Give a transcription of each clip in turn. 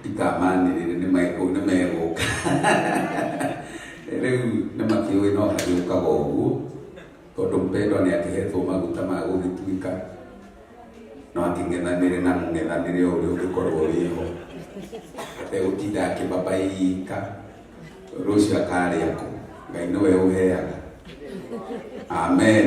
ndikamanĩrĩre nĩ megũ- nĩ megũka rĩu nĩ makĩũĩ no hagĩũkaga ũguo tondũ mpendwa nĩ akĩhetwo maguta ma gũgĩtuĩka no akĩng'ethanĩre na mũng'ethanĩre o ũrĩa ũngĩkorwo wĩho ategũtinda akĩbabaika rũciũ akarĩa kũ ngai nĩwe ũheaga amen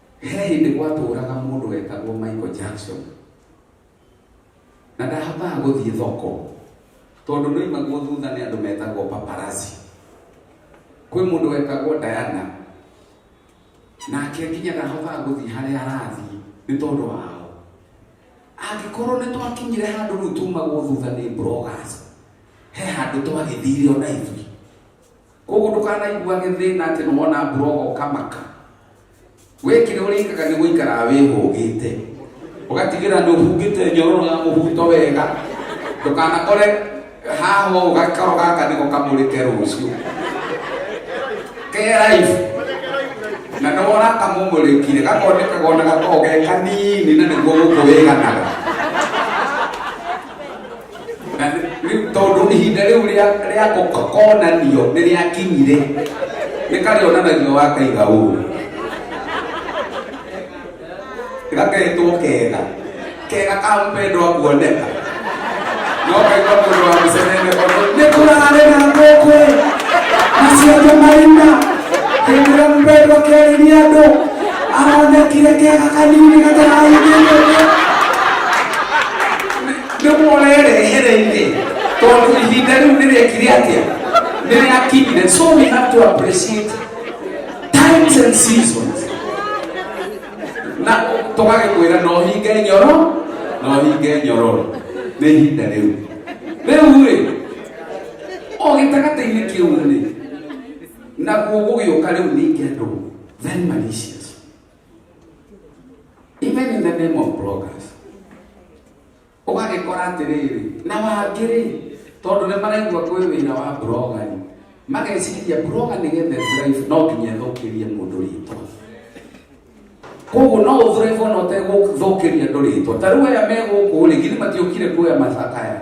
He hĩndĩ gwatũũraga mũndũ wetagwo Michael Jackson, na ndahotaga gũthiĩ thoko tondũ ndoimagwo thutha nĩ andũ metagwo paparazzi. Kwĩ mũndũ wetagwo Diana, nake nginya ndahotaga gũthiĩ harĩa arathiĩ nĩ tondũ wao. Angĩkorwo nĩ twakinyire handũ rĩu tumagwo thutha nĩ bloggers, he handũ twagĩthire ona ithuĩ koguo ndũkanaiguage thĩna atĩ nĩ wona mburogo ũkamaka wĩkĩre ũrĩkaga nĩ gũikaraga wĩhũgĩte ũgatigĩra nĩ ũhungĩte nyororo ya mũbuto wega ndũkanakore haha ũũ gakaro gaka nĩko kamũrĩke rũciũ ke life na nĩ wona kamũmũrĩkire gakonekaga ona gakoragwo ge kanini na nĩguo gũkũ wĩganaga na rĩu tondũ ihinda rĩu rĩa rĩa kũ- konanio nĩ rĩakinyire nĩ karĩonanagio wakaiga ũũ gaketwo kega kega ka mpendwa kuoneka no kaigua mũndũ wa mĩcenene kono nĩ kũrarĩ na ngũkũ maciake marima hĩndĩ ĩrĩa mpendwa kĩarĩria andũ aronekire kega kanini gataraigĩire nĩmũrerehere-inĩ tondũ ihinda rĩu nĩrĩekire atĩa nĩrĩakinyire so we have to appreciate times and seasons na tũgagĩkwĩra no hinge nyoro no hinge nyororo nĩ ihinda rĩu rĩu-rĩ o gĩtagatĩ-inĩ kĩu-rĩ naguo gũgĩũka rĩu ningĩ andũ very malicious even in the name of bloggers ũgagĩkora atĩrĩrĩ na wangĩrĩ tondũ nĩ maraigua kwĩ wĩra wa brogani mageciria broga nĩ gethe drive no nginya thũkĩrie mũndũ rĩtwa koguo no ũthrive ona ũtegũthũkĩria andũ rĩtwa ta rĩu aya me gũkũ rĩ githĩ matiũkire kuoya macakaya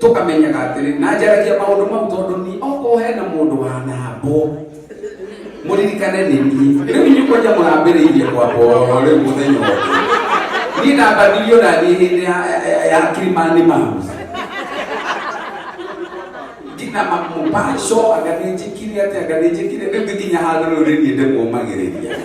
tũkamenyaga atĩrĩ na njaragia maũndũ mau tondũ ni okorwo hena mũndũ wanambwo mũririkane nĩ niĩ rĩu inyuĩ kwanja mũrambĩrĩirie kwambwo rĩu mũthenya wothe niĩ nambanirio na niĩ hĩndĩ ya- ya- ya kirimani mamu ngina mamũbaco anga nĩnjĩkire atĩ anga nĩnjĩkire rĩu nginya handũ rĩu nĩ niĩ ndĩmũmagĩrĩria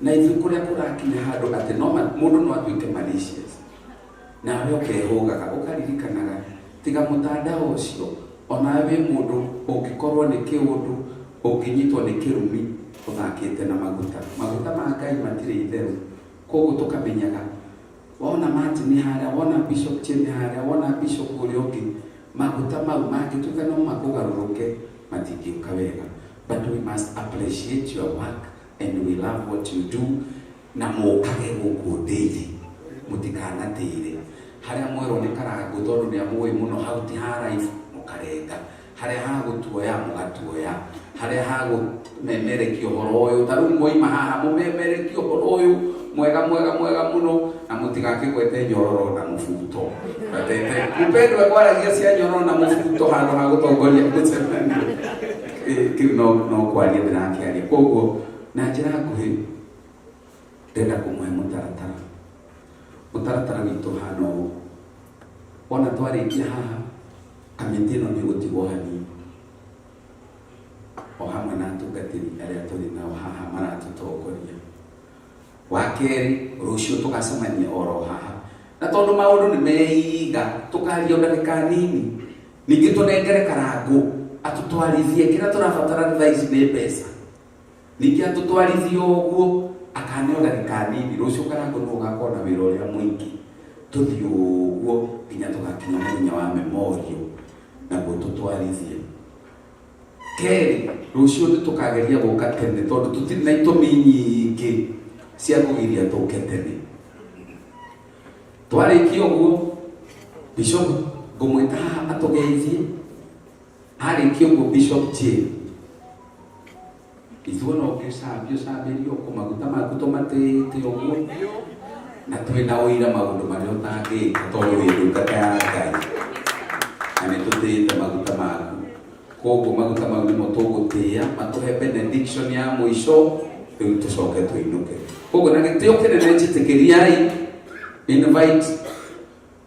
na ithuĩ kũrĩa kũrakinya handũ atĩ no ma- mũndũ no atuĩke malicious nawe ũkehũgaga ũkaririkanaga tiga mũtandao ũcio onawe wĩ mũndũ ũngĩkorwo nĩ kĩũndũ ũngĩnyitwo nĩ kĩrumi ũthakĩte na maguta maguta ma ngai matirĩ itherũ koguo tũkamenyaga wona martin harĩa wona bishop chemi harĩa wona bishop ũrĩa ũngĩ maguta mau mangĩtuĩka no makũgarũrũke matingĩũka wega but we must appreciate your work and we love what you do na mũkage gũkũ ndĩthĩ mũtikanatĩre harĩa mwerwo nĩ karangũ tondũ nĩ amũĩ mũno hau ti ha life mũkarenga harĩa ha gũtuoya mũgatuoya harĩa ha gũmemerekia ũhoro ũyũ ta rĩu mwaima haha mũmemerekia ũhoro ũyũ mwega mwega mwega mũno na mũtigakĩgwete nyororo na mũbuto gatete mũpendwa kwaragia cia nyororo na mũbuto handũ ha gũtongoria mũcemanio Eh, kĩu no no kwaria ndĩrakĩaria koguo na njĩra nguhĩ ndenda kũmũhe mũtaratara mũtaratara witũ hana ũũ ona twarĩkia haha kamĩtĩ ĩno nĩ gũtigwo hanini o hamwe na atungatĩri arĩa tũrĩ nao haha maratũtongoria Wa kerĩ, rũciũ tũgacemania oro haha. Na tondũ maũndũ nĩ meiga, tũkaria o ndagĩka nini. Ningĩ tũnengere karangũ atũtwarithie, kĩrĩa tũrabatara thaa ici nĩ mbeca. Ningĩ atũtwarithie ũguo, akane o ndagĩka nini, rũciũ karangũ nĩ ũgakorwo na wĩra ũrĩa mũingĩ. Tũthiĩ ũguo nginya tũgakinya mũthenya wa memorial, naguo tũtwarithie. kerĩ rũciũ nĩ tũkageria gũka tene tondũ tũtirĩ na itũmi nyingĩ cia kũgiria tũke tene twarĩkia ũguo bishop ngũmwĩta haha atũgeithie arĩkia ũguo bishop jane Ithuĩ no kĩcambio cambĩrio kũ maguta maku tũmatĩĩte ũguo na twĩ na ũira maũndũ marĩa ũtangĩka tondũ wĩ ndungata ya Ngai na nĩ tũtĩĩte maguta maku koguo maguta mau nĩmo tũgũtĩa matũhe benediction ya mũico rĩu tũcoke tũinũke koguo na gĩtĩo kĩnene njĩtĩkĩriai invite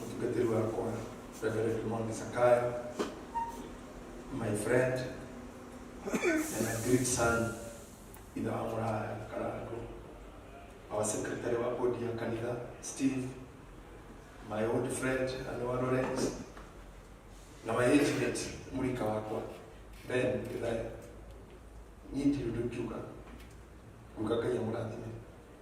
mũtungatĩri wakwa Reverend Mondi Sakaya, my friend and a great son ithe wa mũraya Karango, our secretary wa bodi ya kanitha Steve, my old friend Anua Lawrence, na my age mate mũrika wakwa Ben Githaya. Niĩ ndirĩ ũndũ ingiuga, nguga Ngai amũrathime.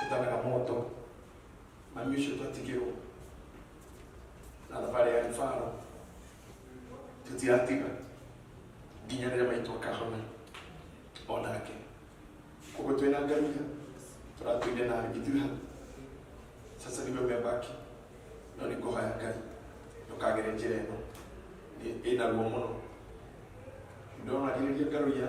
tutalaga moto na misho twatigirwo na thabarä ya ribaro tũtiatiga nginya rĩrĩa maitũ akahona o nake koguo twĩ na ngai tũratũire na ithuĩ hau sasa nĩwe mebaki no nĩ kũhoya ngai ndũkagere njĩra ĩno Nĩ- ĩnaguo mũno ndonagĩrĩria ngarũia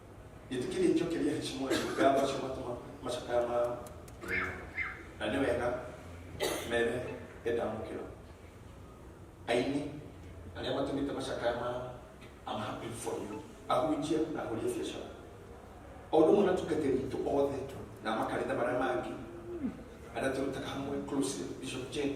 Gĩtĩ kĩrĩ nĩkĩo kĩrĩa heshima ya Ngai macio matuma macakaya mao. Na nĩ wega mere endamũkĩra. Aini arĩa matũmĩte macakaya mao I'm happy for you. Ahunjia na ahũria biacara. O ũndũ ũmwe na tungatĩri witũ othe na makanitha marĩa mangĩ arĩa tũrutaga hamwe closely Bishop Jane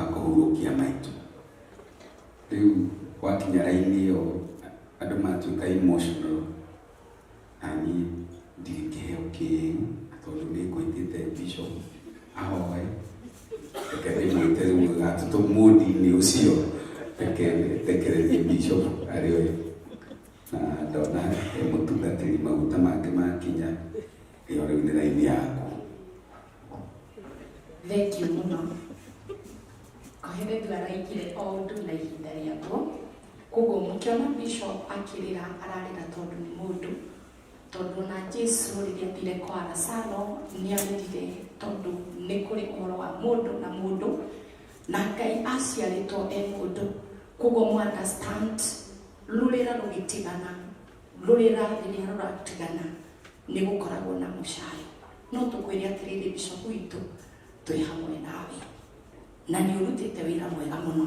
akũhurũkia maitũ rĩu wakinya raini ĩyo andũ matuĩka emotional na niĩ ndirĩ kĩheo kĩu tondũ nĩ ngũĩtĩte bishop ahoe reke ndĩmwĩte rĩu gatũtũ mũndi-inĩ ũcio reke ndekererie bishop arĩ we na ndona e mũtungatĩri maguta make makinya ĩyo rĩu nĩ raini yaku Thengiũ mũno. Aheretu araikire o ũndũ na ihinda rĩaguo, koguo mũkĩona Bishop akĩrĩra ararĩra tondũ nĩ mũndũ, tondũ ona Jesu rĩrĩa athire kwa Lazaro nĩ arĩrire tondũ nĩ kũrĩ ũhoro wa mũndũ na mũndũ, na Ngai aciarĩtwo e mũndũ, koguo mũ understand rũrĩra rũgĩtigana, rũrĩra rĩrĩa rũratigana nĩ gũkoragwo na mũcaayo. no tũkwĩre atĩrĩrĩ bishopu witũ twĩ hamwe nawe na nĩ ũrutĩte wĩra mwega mũno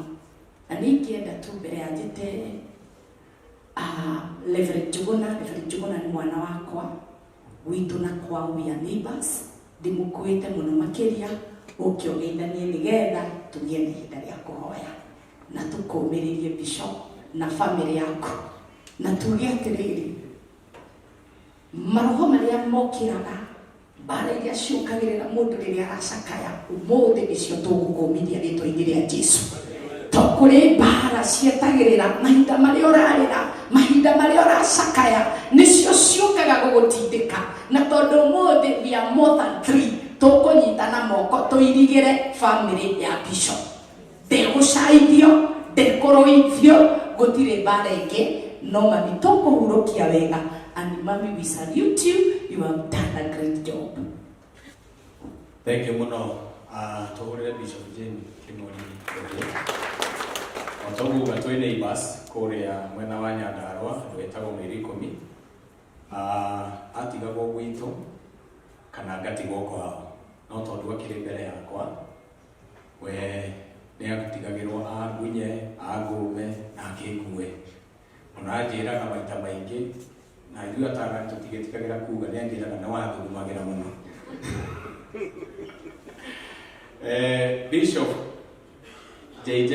na nĩ ingĩenda tu mbere ya njĩte ah, Reverend Njuguna Reverend Njuguna nĩ mwana wakwa witũ na kwa we are neighbors ndĩmũkuĩte mũno makĩria ũke ũgeithanie nĩgetha tũgĩe na ihinda rĩa kũhoya na tũkũmĩrĩrie bishop na famĩlĩ yaku na tuge atĩrĩrĩ maroho marĩa mokĩraga mbara iria ciũkagĩrĩra mũndũ rĩrĩa aracakaya ũmũthĩ nĩcio tũgũkũmithia rĩtwa-inĩ rĩa jesu to kũrĩ mbara cietagĩrĩra mahinda marĩa ũrarĩra mahinda marĩa ũracakaya nĩcio ciũkaga gũgũtindĩka na tondũ ũmũthĩ we are more than three tũkũnyitana moko tũirigĩre family ya bishop ndegũcaithio ndekũrũithio gũtirĩ mbara ingĩ no mami tũkũhurũkia wega and mami we salute you you have done a great job Thank you muno. Uh, tuhurire Bishop Jane Kimori Ojo. Otoguga twĩ neighbors kũrĩa mwena wa Nyandarua andũ etagwo mĩeri ikũmi. Uh, atigagwo gwitũ kana ngatigwo kwao no tondũ akĩrĩ mbere yakwa we nĩ agutigagĩrwo angunye athũme na akĩngue ona anjĩraga maita maingĩ na ithuĩ atara tũtigĩtigagĩra kuga nĩ anjĩraga nĩ wathũmagĩra mũno Eh, Bishop JJ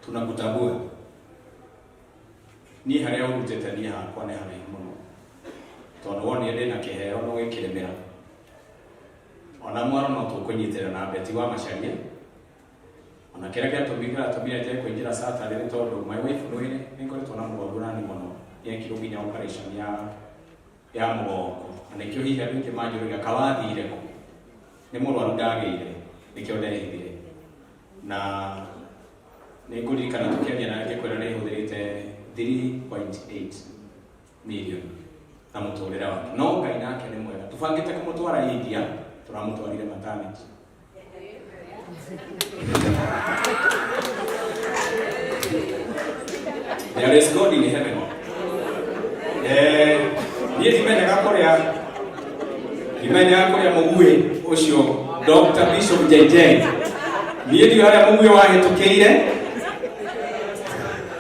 tunakutambua. Ni haria urutete ni hakwa ni haraihu muno. Tondu wonire ndina kiheo no wikiremera. ona mwana no tũkũnyitĩra na beti wa macaria ona kĩrĩa gĩatũmi gĩatũmire njage kũingĩra sata rĩrĩ tondũ my wife mwĩrĩ nĩ ngoretwo na mũgongo nani mũno yekirwo nginya operation ya ya mũgongo na nĩkĩo hihi andũ aingĩ manjũrĩga kawathire kũ nĩ mũrwaru ndagĩire nĩkĩo ndehithire na nĩ ngũririkana tũkĩaria na ngĩkwĩra nĩ hũthĩrĩte 3.8 mirioni na mũtũrĩre wake no ngai nake nĩ mwega tũbangĩte kũmũtwara india tũramũtwarire matanĩki there is god in heaven Eh, niĩ ndimenyaga kũrĩa ndimenyaga kũrĩa mũguĩ ũcio dr bishop jj niĩ ndiũ harĩa mũguĩ wahĩtũkĩire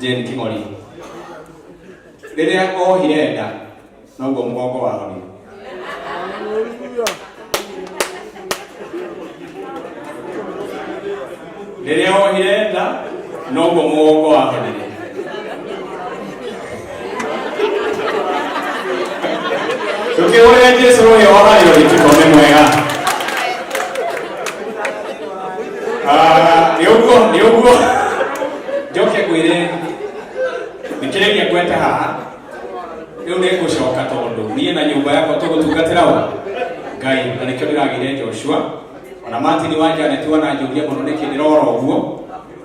Jane Kimori rĩrĩa ohire nda noguo mũgongo wahorire rĩrĩa ohire nda noguo mũgongo wahorire tukihũrĩra jesu rũĩ oragĩro gĩtiko nĩ mwega Ah, nĩ ũguo nĩ ũguo njoke ngwĩre thikĩrĩria ngwete haha rĩu nĩ ngũcoka tondũ niĩ na nyũmba yakwa tũgũtungatĩra wa ngai na nĩkĩo ndĩragĩire joshua ona martin wa janet wananjũria mũno nĩkĩ ndĩrora ũguo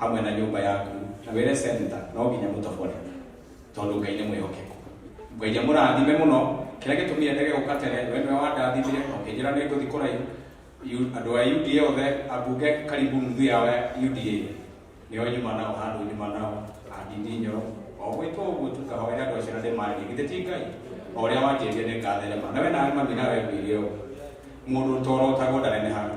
hamwe na nyũmba yaku na wĩre senta no nginya mũtobore tondũ ngai nĩ mwĩhokeku ngai nĩ mũrathime mũno kĩrĩa gĩtũmire ndege gũka tene we nĩwe wandathimire na ũkĩnjĩra nĩ ngũthi kũraihu Yu- andũ a uda othe ambunge karibu nuthu yao ya uda nĩo nyuma nao handũ nyuma nao andini nyoro o gwĩtwo ũguo tukahoera andũ acio na ndĩmarĩrie githĩ ti ngai o ũrĩa wanjĩrire nĩ ngatherema na we nawe mami nawe ngwĩrie ũguo mũndũ torotagwo ndanenehaga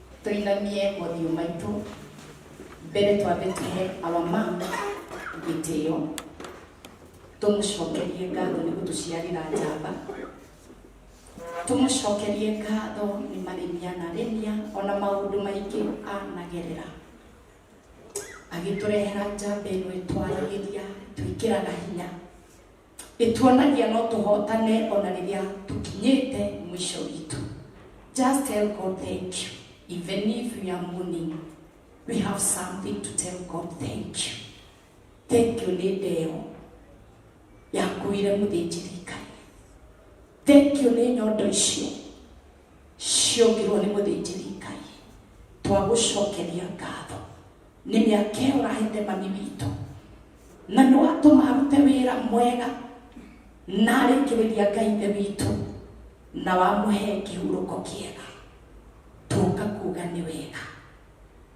Tũinamie mothiũ maitũ mbere twambe tũhe our mom gĩtĩo tũmũcokerie ngatho nĩ gũtũciarĩra njamba tũmũcokerie ngatho nĩ marĩmia na rĩmia ona maũndũ maingĩ anagerera agĩtũrehera njamba ĩno ĩtwaragĩria twĩkĩraga hinya ĩtuonagia no tũhotane ona rĩrĩa tũkinyĩte mwisho witũ just tell god thank you even if we are mourning we have something to tell god thank you thank you nĩ ndeo yakuire mũthĩnjĩri ngai thank you nĩ nyondo icio ciongirwo nĩ mũthĩnjĩri ngai twagũcokeria ngatho nĩ mĩaka ĩyo ũrahete mami witũ na nĩ watũma arute wĩra mwega na arĩkĩrĩria ngai ithe witũ na wamũhe kĩhurũko kĩega tũka kuga nĩ wega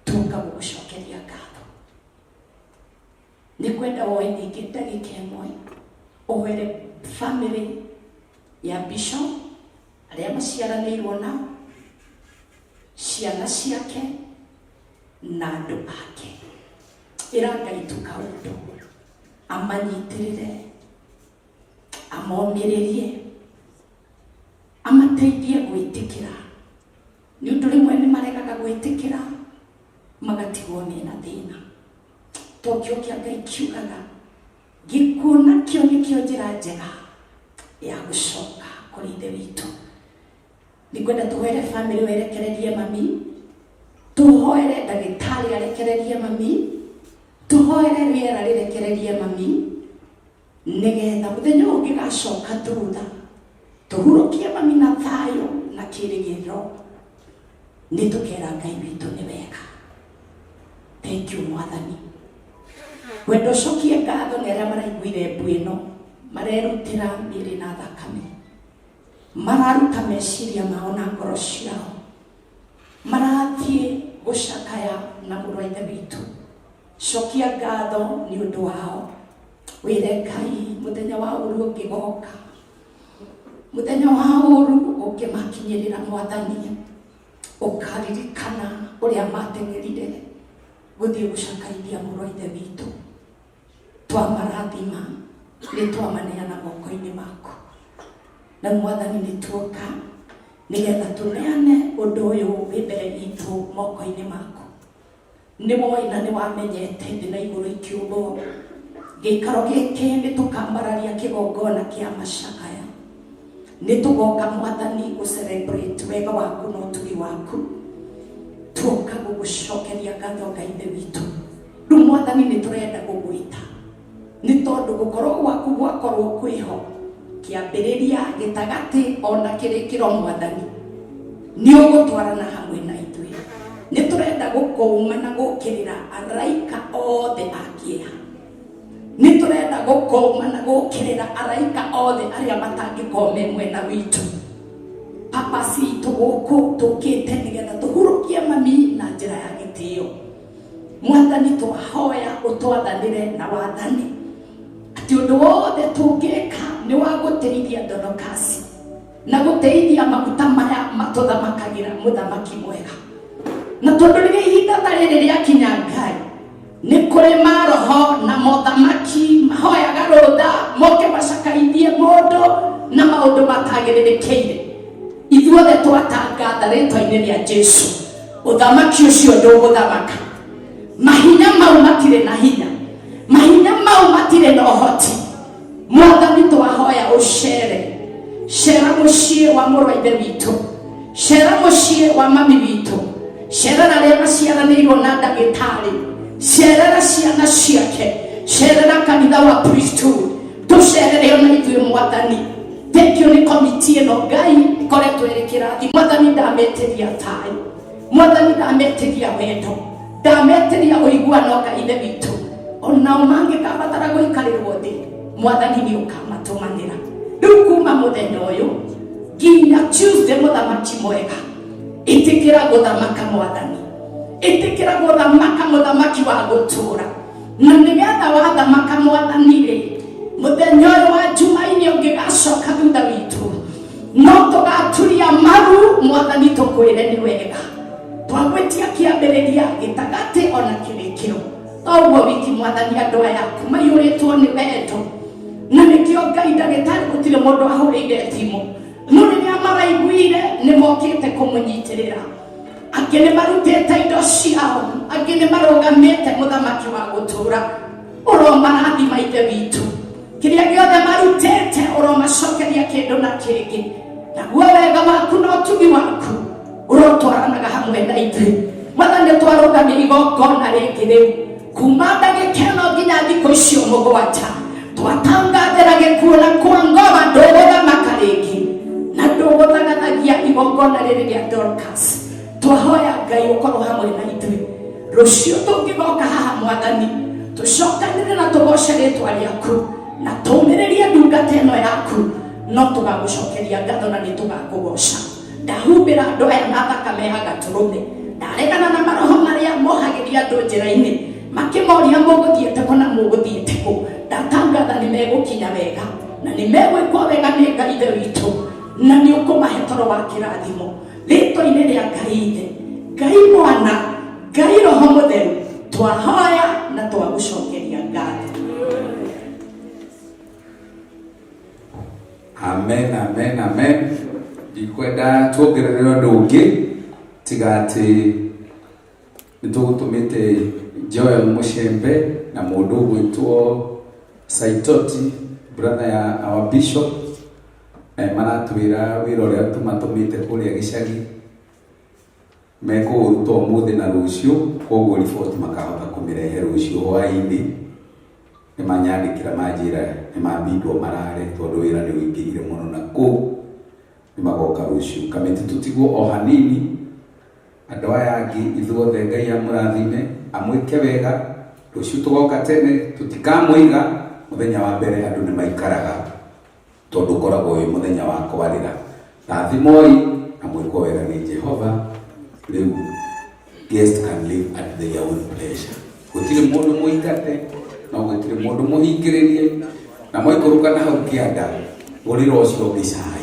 tũka gũgũcokeria ngatho nĩ kwenda woe ningĩ ndagĩka ĩmwe ũhwere family ya bishop arĩa maciaranĩirwo na ciana ciake na andũ ake ĩra ngai tũkaũndũ amanyitĩrĩre amomĩrĩrie amateithie gwĩtĩkĩra nĩ ũndũ rĩmwe nĩ maregaga gwĩtĩkĩra magatigwo mena thĩna tokio kia ngai kiugaga gikuo nakio nikio njira njega ya gucoka kuri ithe witũ nĩngwenda tũhoere bamĩrĩ werekererie mami tũhoere ndagĩtarĩ arekererie mami tũhoere rĩera rĩrekererie mami nĩgetha mũthenya ũyũ ũngĩgacoka thutha tũhurũkie mami na thayũ na kĩrĩgĩrĩro nĩ tũkera ngai witũ nĩ wega thank you mwathani wendo cokie ngatho nĩ arĩa maraiguire mbu ĩno marerutĩra mĩrĩ na thakame mararuta meciria mao na ngoro ciao marathiĩ gũcakaya na mũrũ wa ithe witũ cokia ngatho nĩ ũndũ wao wĩre ngai mũthenya wa ũru ũngĩgoka mũthenya wa ũru ũngĩmakinyĩrĩra mwathani ũkaririkana ũrĩa mateng'erire gũthiĩ gũcakaithia mũrũ wa ithe witũ twamarathima nĩ twamaneana moko-inĩ maku na mwathani nĩ tuoka nĩgetha tũneane ũndũ ũyũ wĩ mbere witũ moko-inĩ maku nĩ woĩ na nĩ wamenyete thĩ na igũrũ ikĩũmbwo gĩikaro gĩkĩ nĩ tũkambararia kĩgongona kĩa macakaya nĩ tũgoka mwathani gũcelebrate wega waku na ũtugi waku tuoka gũgũcokeria ngatho ngaithe witũ rĩu mwathani nĩ tũrenda gũgwĩta nĩ tondũ gũkorwo gwaku gwakorwo kwĩho kĩambĩrĩria gĩtagatĩ ona kĩrĩkĩro mwathani nĩ ũgũtwarana hamwe na ithuĩ nĩ tũrenda gũkũũma na gũkĩrĩra araika othe a kĩeha nĩ tũrenda gũkũũma na gũkĩrĩra araika othe arĩa matangĩkorwo me mwena witũ papa citũ gũkũ tũkĩte nĩgetha tũhurũkie mami na njĩra ya gĩtĩo mwathani twahoya ũtwathanĩre na wathani atĩ ũndũ wothe tũngĩka nĩ wa gũteithia ndonokasi na gũteithia maguta maya matũthamakagĩra mũthamaki mwega na tondũ rĩrĩa ihinda ta rĩrĩ rĩakinya ngai nĩ kũrĩ maroho na mothamaki mahoyaga rũtha moke macakaithie mũndũ na maũndũ matagĩrĩrĩkĩire ithuothe twatangatha rĩtwa-inĩ rĩa jesu ũthamaki ũcio ndũgũthamaka mahinya mau matirĩ na hinya mahinya mau matirĩ na ũhoti mwathani twahoya ũcere cera mũciĩ wa mũrũ wa ithe witũ cera mũciĩ wa mami witũ cerera arĩa maciaranĩirwo na ndagĩtarĩ cerera ciana ciake cerera kanitha wa priesthood tũcerereyo na ithuĩ mwathani tekio nĩ komiti ĩno ngai ĩkoretwo ĩrĩ kĩrathi mwathani ndametĩria thayũ mwathani ndametĩria wendo ndametĩria ũiguano ngai nĩ witũ onao mangĩkabatara gũikarĩrwo thĩ mwathani nĩ ũkamatũmanĩra rĩu kuma mũthenya ũyũ nginya tuesday mũthamaki mwega ĩtĩkĩra gũthamaka mwathani ĩtĩkĩra gũthamaka mũthamaki wa gũtũũra na nĩgetha wathamaka mwathani-rĩ mũthenya ũyũ wa njumainĩ ũngĩgacoka thutha witũ no tũgaturia maru mwathani tũkwĩre nĩ wega twagwĩtia kĩambĩrĩria gĩtagatĩ ona kĩrĩkĩro toguo wiki mwathani andũ aya maiyũrĩtwo nĩ wendo na nĩkĩo ngai ndagĩtarĩ gũtirĩ mũndũ ahũrĩire thimũ no rĩrĩa maraiguire nĩ mokĩte kũmũnyitĩrĩra angĩ nĩ marutĩte indo ciao angĩ nĩ marũgamĩte mũthamaki wa gũtũũra ũromarathima ithe witũ kĩrĩa gĩothe marutĩte ũromacokeria kĩndũ na kĩngĩ naguo wega waku na ũtugi waku ũrotwaranaga hamwe na ithuĩ mwathani twarũgamia igongona rĩngĩ rĩu kuma ndagĩkeno nginya thikũ icio mũgwanja twatangathĩra gĩkuona kwa ngoma ndũgũthamaka rĩngĩ na ndũgũthagathagia igongona rĩrĩ rĩa dorcas twahoya ngai ũkorwo hamwe na ithuĩ rũciũ tũngĩgoka haha mwathani tũcokanĩre na tũgoce rĩtwa rĩaku na tũmĩrĩrie ndungata ĩno yaku no tũgagũcokeria ngatho na nĩ tũgakũgoca ndahumbĩra andũ aya na thakame ya gatũrũme ndaregana na maroho marĩa mohagĩria andũ njĩra-inĩ makĩmoria mũgũthiĩte kũ na mũgũthiĩte kũ ndatangatha nĩ megũkinya wega na nĩ megwĩkwo wega nĩ ngai ithe witũ na nĩ ũkũmahe toro wa kĩrathimo rĩtwa-inĩ rĩa ngai ithe ngai mwana ngai roho mũtheru twahoya na twagũcokeria ngatho amen amen amen ndikwenda tuongerere ũndũ ũngĩ tiga atĩ nĩ tũgũtũmĩte joel mũcembe na mũndũ ũgwĩtwo saitoti brother ya our bishop na nĩ maratwĩra wĩra ũrĩa tũmatũmĩte kũrĩa gĩcagi Mekũũruta ũmũthĩ na rũciũ, kwoguo riboti makahota kũmĩrehe rũciũ hwaĩ-inĩ. Nĩmanyandĩkĩra manjĩra nĩmabindwo marare tondũ wĩra nĩũingĩhire mũno na kũu. Nĩmagoka rũciũ. Kamĩtĩ tũtigwo o hanini. Andũ aya angĩ ithuothe Ngai amũrathime, amwĩke wega. Rũciũ tũgoka tene, tũtikamũiga. Mũthenya wa mbere andũ nĩmaikaraga tondũ ũkoragwo wĩ mũthenya wa kwarĩra rathimoi na mwĩkwo wega nĩ jehova rĩu guest can live at their own pleasure gũtirĩ mũndũ mũingate no gũtirĩ mũndũ mũhingĩrĩrie na mwaikũrũka na hau kĩanda ũrĩra ũcio ũngĩ cai